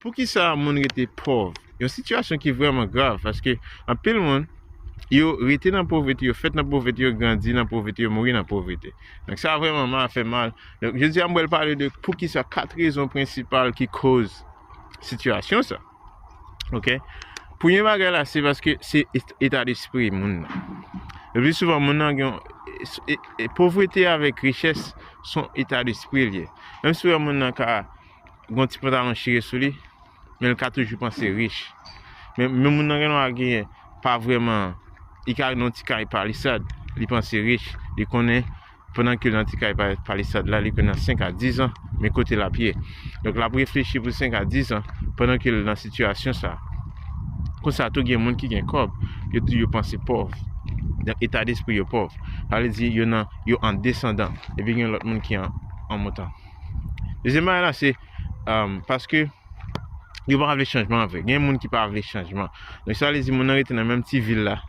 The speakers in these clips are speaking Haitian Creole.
Poukisa moun rete pòv? Yon sitiyasyon ki vrèman grav paske anpil moun yo rete nan povrete, yo fèt nan povrete, yo grandi nan povrete, yo mouri nan povrete. Donk sa vrèman ma fè mal. Donk jodi a m wèl pale de poukisa kat rezon prensipal ki koz sitiyasyon sa. Ok? Premye bagay la se paske se eta despri moun nan. Le plus souvan moun nan gen povrete avèk richès son eta despri liye. Menm si moun nan ka Gon ti pantalon chire sou li, men li ka toujou panse rich. Men moun nan gen dwa genyen pa vrèman, li ka nan ti kay palisad, li panse rich, li konnen pandan ke l nan ti kay palisad la, li konnen nan 5 a 10 an, men kote l ap ye. Donk l ap reflechi pou 5 a 10 an, pandan ke l nan sitiyasyon sa. Konsa tou gen moun ki gen kòb, yo tou yo panse pòv. Donk eta despri yo pòv. Sa vle di yo nan, yo an desandan. Epi gen lòt moun ki an montan. Dezyèm bagay la se paske yo pa vle chanjman an vre. Gen moun ki pa vle chanjman. Donk sa vle di moun nan rete nan menm ti vil la.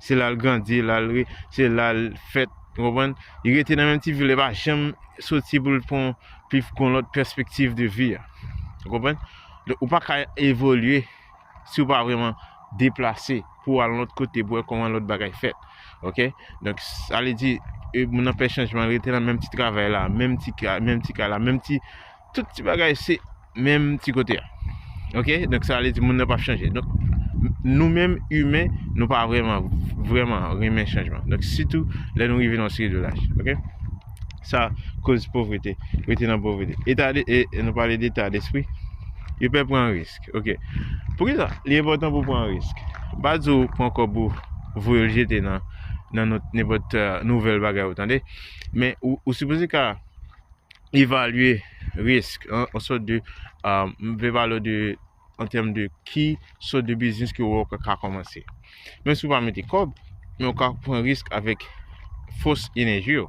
Se la l grandi, la l re, se la l fèt, ou konprann? Li rete nan menm ti vil la, li pa janm soti pou l pran pi fon lòt pèspektiv de vi a. Ou konprann? Donk ou pa ka evolye. si ou pa vreman deplase pou al lòt kote pou wè kòman lòt bagay fèt ok donk sa li di moun nan pè chanjman rete nan menm ti travay la menm ti ka menm ti ka la menm ti tout ti bagay se menm ti kote a ok donk sa li di moun nan pa chanje donk nou menm imen nou pa vreman vreman renmen chanjman donk sitou lè nou rive nan seri de laj ok sa koz povrete rete nan povrete e ta de e nou pale de ta despri yo pè pran risk Ok. Poukisa li enpòtan pou pran risk? M pa di w pran kòb ou voye l jete nan nan not nenpòt nouvèl bagay ou tande. Men ou ou sipoze ka evalye risk an an sòt de m vle pale w de an tèm de ki sòt de biznis ke ou ka kòmanse. Menm si ou pa mete kòb, men ou ka pran risk avèk fòs enèji ou,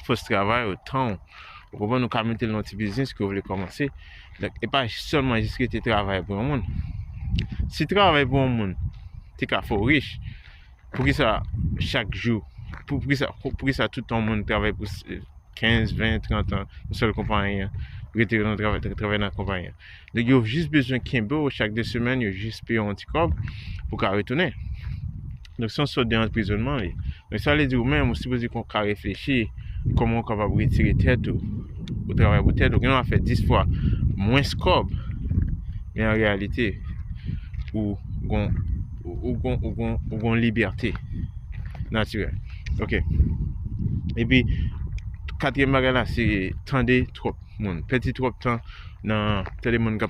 fòs travay ou, tan ou. Ou konprann nou ka mete l nan ti biznis ke ou vle kòmanse. Donk, e pa sèlman jis rete travay pou yon moun. Si travay pou yon moun te ka fè ou rich, poukisa chak jou, poukisa, poukisa tout an moun travay pou 15, 20, 30 an, yon sèl konpayi an, rete nan travay, travay nan konpayi an. Nèg yo jis bezwen kenbe w chak 2 semèn yo jis peye w yon ti kòb pou w ka retounen. Donk se yon sòt de anprizonnman li. Donk sa vle di ou menm ou sipoze konn ka reflechi kòman ou kapab retire tèt ou. Ou travay pou tèt ou. Gen lè w ap fè 10 fwa mwens kòb men an reyalite ou gon ou gon ou gon ou gon libète natirèl. Ok. E pi, katriyèm bagay la se tande twòp moun. Pèdi twòp tan nan tande moun k ap.